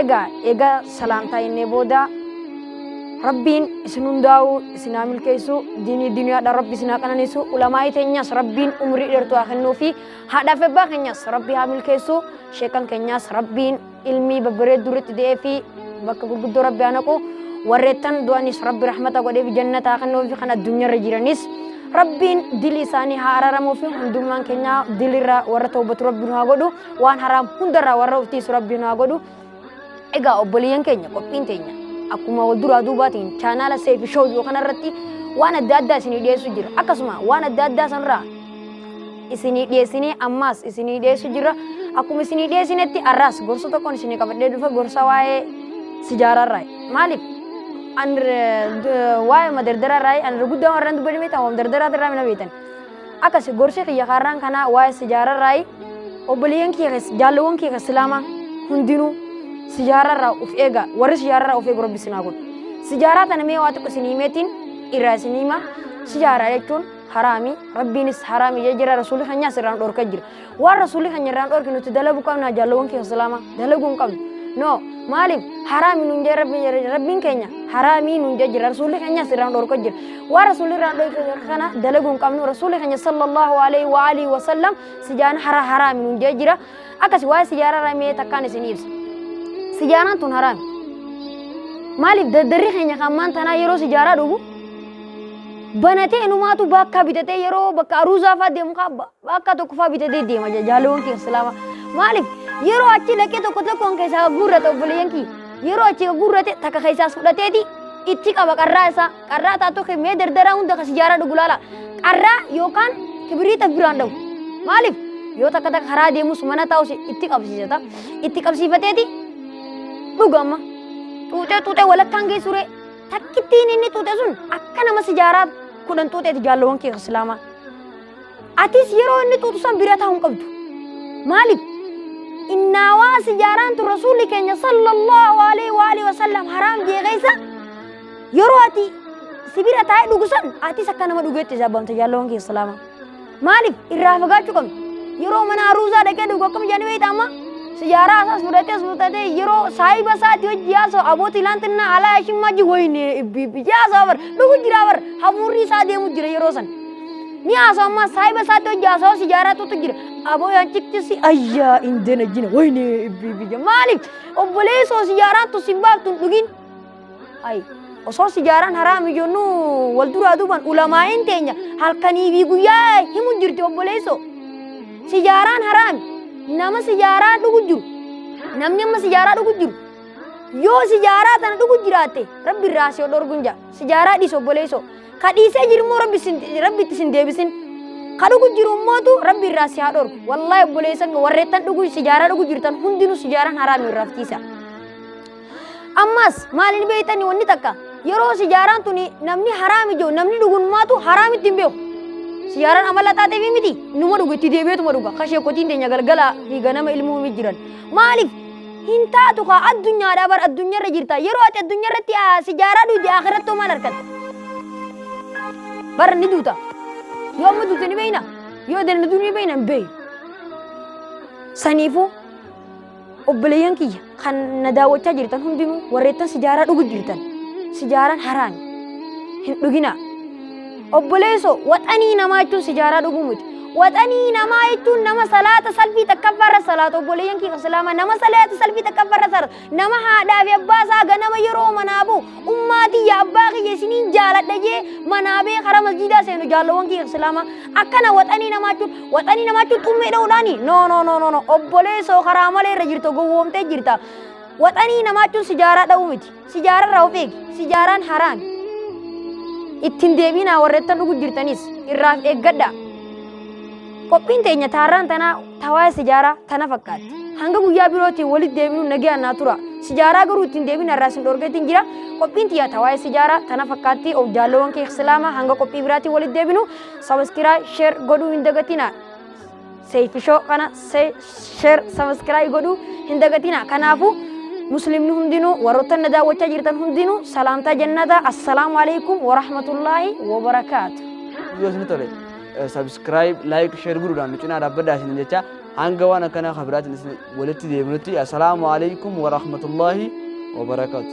Egaa egaa salaamtaa innee booda rabbiin isin hundaa'uu isin haa milkeessu diinii duniyaadha rabbi isin haa qananiisu ulamaa'ii teenyas rabbiin umrii dheertuu haa kennuu fi haadhaaf ebbaa keenyas rabbi haa milkeessu sheekan keenyas rabbiin ilmii babbareedduu irratti de'ee fi bakka gurguddoo rabbi haa naqu warreettan du'anis rabbi rahmata godheef jannata haa kennuu fi kan addunyaarra jiranis rabbiin dili isaanii haa araramuu fi hundummaan keenya dilirra warra toobatu rabbi nu haa godhu waan haraam hundarraa warra of tiisu rabbi nu haa godhu egaa obboleeyyan keenya qophiin teenya akkuma wal duraa duubaatiin chaanaala seefi shoo jiru kanarratti waan adda addaa isinii dhiyeessu jira akkasuma waan adda addaa sanirraa isinii dhiyeessinee ammaas isinii dhiyeessu jira akkuma isinii dhiyeessinetti arraas gorsa tokkoon isinii qabadhee dhufa gorsa waa'ee sijaaraarraa maaliif an waa'ee madardararraa an guddaa warreen dubbadhimee ta'u madardaraatirraa mina beetan Akkasi gorsi kiyya kaarraan kanaa waa'ee sijaararraayi. Obboleeyyan kiyya keessa jaalawwan kiyya keessa islaamaa hundinuu sijaararraa of eega warri sijaararraa of eegu rabbi sinaa godhu. Sijaaraa tana mee waa xiqqo isin himeetiin irraa isin hima. Sijaaraa jechuun haraami rabbiinis haraami jee jira rasuulli keenyaas irraan dhorka jira. waan rasuulli keenya irraan dhorke nuti dalaguu qabna jaalawwan keenya islaama dalaguu hin qabnu no maaliif haraami nuun jee rabbi- rabbiin keenya haraamii nuun jee jira rasuulli keenyas irraan dhorka jira waan rasuulli irraan dhorke kana dalaguu hin qabnu rasuulli keenya sallallahu alaihi wa alihi wa sallam sijaan hara haraami nuun jee jira akkasi waa'ee sijaara ramee takkaan isin ibsa sijaaraan tun haraami maaliif daddarri keenya kan maan tanaa yeroo sijaaraa dhugu banatee inumaatu bakka bitatee yeroo bakka aruuzaa fa'aa deemu kaabba Bakka tokko fa'aa bitatee deema jaa- jaalawwan kee islaama. Maaliif yeroo achi dhaqee tokko tokkoon keessaa guurrate obboleeyyan kiyya. Yeroo achi guurrate takka keessaas fudhateeti itti qaba qarraa isaa. Qarraa taatoo kee mee dardaraa hunda kan sijaaraa dhugu laala. Qarraa yookaan kibiriita biraan dhabu. Maaliif yoo takka takka karaa deemus mana taa'us itti qabsiisata. Itti qabsiifateeti dhuga amma. Xuuxee xuuxee walakkaan geessuree takkittiin inni xuuxe sun akka nama sijaaraa kudhan xuuxeeti jaalawwan kee islaamaa. Atis yeroo inni xuuxu san bira taa'uu hin qabdu. Maaliif? Innaawaa sijaaraan tun rasuulli keenya sallallahu alaihi wa alihi wasallam haraam jee keessa yeroo ati sibira taa'ee dhugu san atis akka nama dhugeetti sabbamta jaalawwan keessa islaama. Maaliif irraa fagaachuu qabna? Yeroo mana aruuzaa dhaqee dhugu akkam jedhanii beekta amma? Sijaaraa isaas fudhatee as fudhatee yeroo saahiba isaati hojii haasa'u abooti ilaantinna alaa yashimmaa ji wayinee ibbi ibbi jaasaa bar dhugu jira bar hafuurri isaa deemu jira yeroo san. Ni haasoo ammaa saahiba isaatti hojii haasoo si jaaratutu jira. Aboo yaa cikti si ayyaa hin dana jina wayne biyya maaliif obboleessoo si jaaraattu si baaftu hin dhugin. Ayi osoo si jaaraan haraami jennu wal duraa duuban ulamaa'in teenya halkanii fi guyyaa himu jirti obboleessoo. Si jaaraan haraami nama si jaaraa dhugu jiru namni amma si jaaraa dhugu jiru yoo si jaaraa tana dhugu jiraatte rabbi irraa si dhorgun jaa si jaaraa dhiis obboleessoo. Ka dhiisee jiru immoo rabbi isin- rabbi itti isin deebisin. Ka dhugu jiru immootu rabbi irraa si haa dhorku. Wallaahi obboleessan koo warreettan dhugu sijaaraa dhugu jirtan hundinuu sijaaraan haraami irraa fitiisa. Ammas maaliin beektanii wanni takka yeroo sijaaraan tuni namni haraami jiru namni dhugunmaatu haraamitti hin beeku. Sijaaraan amala taateef miti numa dhugu itti deebi'eetuma dhuga. Ka sheekotiin teenya galgala fi ganama ilmuun jiran. Maaliif? Hin taatu kaa addunyaadhaa bar addunyaarra jirta. Yeroo ati addunyaarratti ah, sijaaraa duuti akhiratti hoo maal argatta? Bar ni duuta. Yoo amma duute ni beeyna. Yoo dandatu ni beeyna hin beeyu. Saniifuu obboleeyyan kiyya kan na daawwachaa jirtan hundinuu warreettan sijaaraa dhugu jirtan. Sijaaraan haraami. Hin dhuginaa. Obboleesso waxanii namaa jechuun sijaaraa dhuguu miti. Waxanii namaa jechuun nama salaata salfii takkaffaa irra salaatu obboleeyyan kiyya islaamaa nama salaata salfii takkaffaa irra salaatu nama haadhaa fi abbaa isaa ganama yeroo manaa bu'u ummaa tiyya abbaa kiyya isiniin jaaladha jee manaa bee karaa masjiidaa seenu jaalawwan kiyya islaamaa akkana waxanii namaa jechuun waxanii namaa jechuun xummee dha'uudhaani no no no no no obboleessoo karaa malee irra jirta gowwoomtee jirta waxanii namaa jechuun sijaaraa dha'uu miti. Sijaararraa of eegi. Sijaaraan haraami. Ittiin deebiinaa warreettan dhugu jirtanis irraaf eeggadhaa. Qophiin teenya taarraan tanaa tawaa'ee sijaaraa tana fakkaatti. Hanga guyyaa birootiin walitti deebinu nagaan naa tura. Sijaaraa garuu ittiin deebiin irraa isin dhorgeetiin jira. Qophiin tiyya tawaa'ee sijaaraa tana fakkaatti of jaalloowwan kee islaamaa hanga qophii biraatiin walitti deebinu sabaskiraa sheer godhuu hin dagatinaa. Seeyfi Show kana se- share subscribe godhuu hin dagatina. Kanaafuu muslimni hundinuu warroota na daawwachaa jirtan hundinuu salaamtaa jannataa assalaamu alaikum wa rahmatullaahi wa barakaatu. yoo isin tole subscribe like share godhuudhaan nu cinaa dhaabbadhaa isin jecha hanga waan akkanaa kan biraatiin isin walitti deebinutti assalaamu alaikum wa rahmatullaahi wa barakaatu.